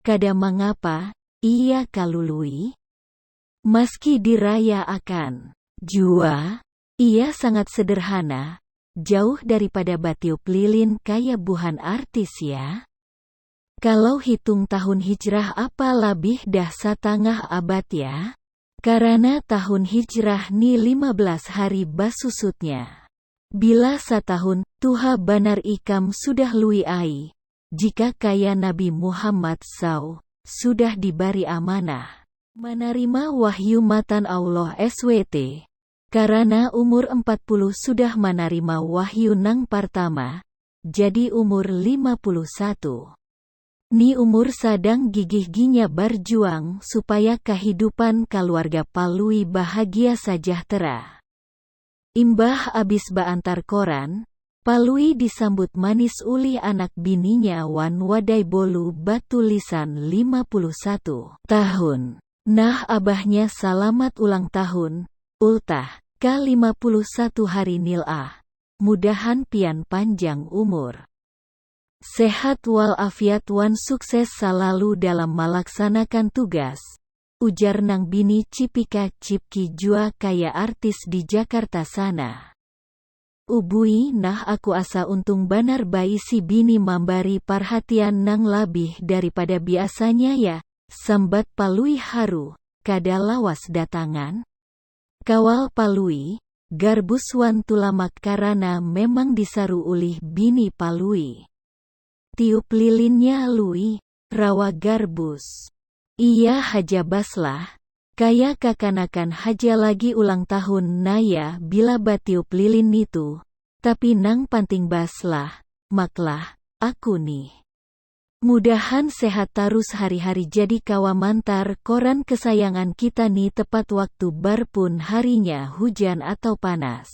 kada mangapa iya kalu Lui. Maski diraya akan. Jua, iya sangat sederhana, jauh daripada batiup lilin kaya buhan artis ya. Kalau hitung tahun hijrah apa labih dah satangah abad ya. Karana tahun hijrah ni lima belas hari basusutnya. Bila satahun, tuha banar ikam sudah Lui ai, jika kaya Nabi Muhammad saw sudah dibari amanah manarima wahyu matan Allah SWT, karana umur empat puluh sudah manarima wahyu nang partama, jadi umur lima puluh satu. Ni umur sadang gigih-ginya barjuang supaya kahidupan kaluarga Palui bahagia sajahtera. Imbah abis baantar koran, Palui disambut manis ulih anak bininya wan wadai bolu batulisan lima puluh satu. Tahun. Nah abahnya salamat ulang tahun, ultah, ka lima puluh satu hari nil ah. Mudahan pian panjang umur. Sehat wal afiat wan sukses salalu dalam malaksanakan tugas, ujar nang bini cipika cipki jua kaya artis di jakarta sana. Ubui nah aku asa untung banar baisi bini mambari parhatian nang labih daripada biasanya ya, sambat palui haru, kada lawas datangan? Kawal palui, garbus wan tulamak karana memang disaru ulih bini palui. Tiup lilinnya lui, rawa garbus. Iya haja bas lah, kaya kakanakan haja lagi ulang tahun naya bila batiup lilin nitu, tapi nang panting bas lah, mak lah, aku nih. Mudahan sehat tarus hari-hari jadi kawa mantar koran kesayangan kita nih tepat waktu bar pun harinya hujan atau panas.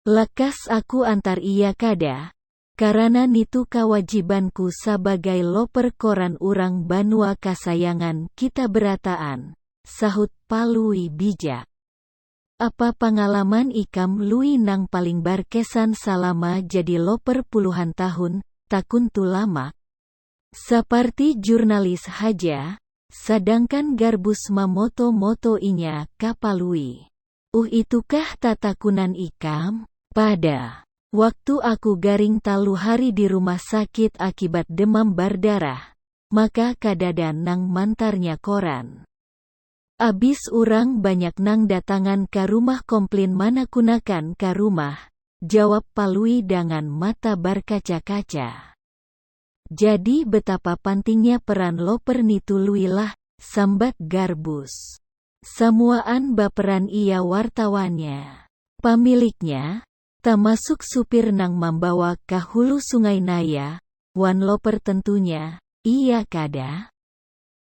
Lakas aku antar iya kada, karana nitu kawajibanku sabagai loper koran urang banua kasayangan kita berataan, sahut Palui bijak. Apa pangalaman ikam Lui nang paling barkesan salama jadi loper puluhan tahun? takun Tulamak. Saparti jurnalis haja, sadangkan Garbus mamoto-moto inya ka Palui. Uh itukah tatakunan ikam? Pada. Waktu aku garing talu hari di rumah sakit akibat demam bardarah, maka kadada nang mantarnya koran. Abis urang banyak nang datangan ka rumah komplin manakunakan ka rumah, jawab Palui dangan mata barkaca-kaca. Jadi betapa pantingnya peran loper nitu lui lah, sambat Garbus. Samuaan baperan iya wartawannya. Pamiliknya, tamasuk supir nang mambawa ka hulu sungai naya, wan loper tentunya, iya kada?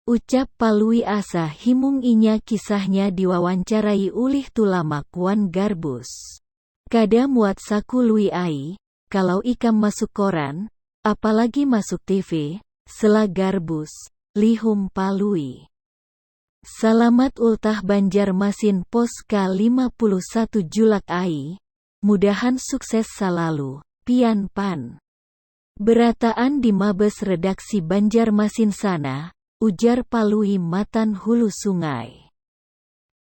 Ucap Palui asa himung inya kisahnya diwawancarai ulih Tulamak wan Garbus. Kada muat saku lui ai, kalau ikam masuk koran, apalagi masuk TV, sela garbus, lihum palui. Salamat ultah Banjarmasin post ka lima puluh satu julak ai, mudahan sukses salalu, pian pan. Berataan di mabes redaksi Banjarmasin sana, ujar Palui matan hulu sungai.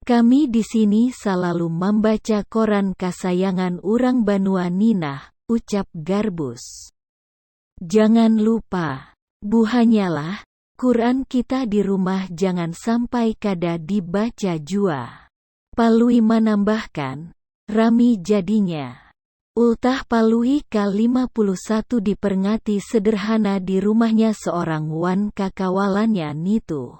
Kami di sini salalu mambaca koran kasayangan urang banua ni nah, ucap Garbus. Jangan lupa. Buhanyalah, Quran kita di rumah jangan sampai kada dibaca jua. Palui manambahkan, Rami jadinya. Ultah Palui ka lima puluh satu diperngati sederhana di rumahnya seorang wan kakawalannya nitu.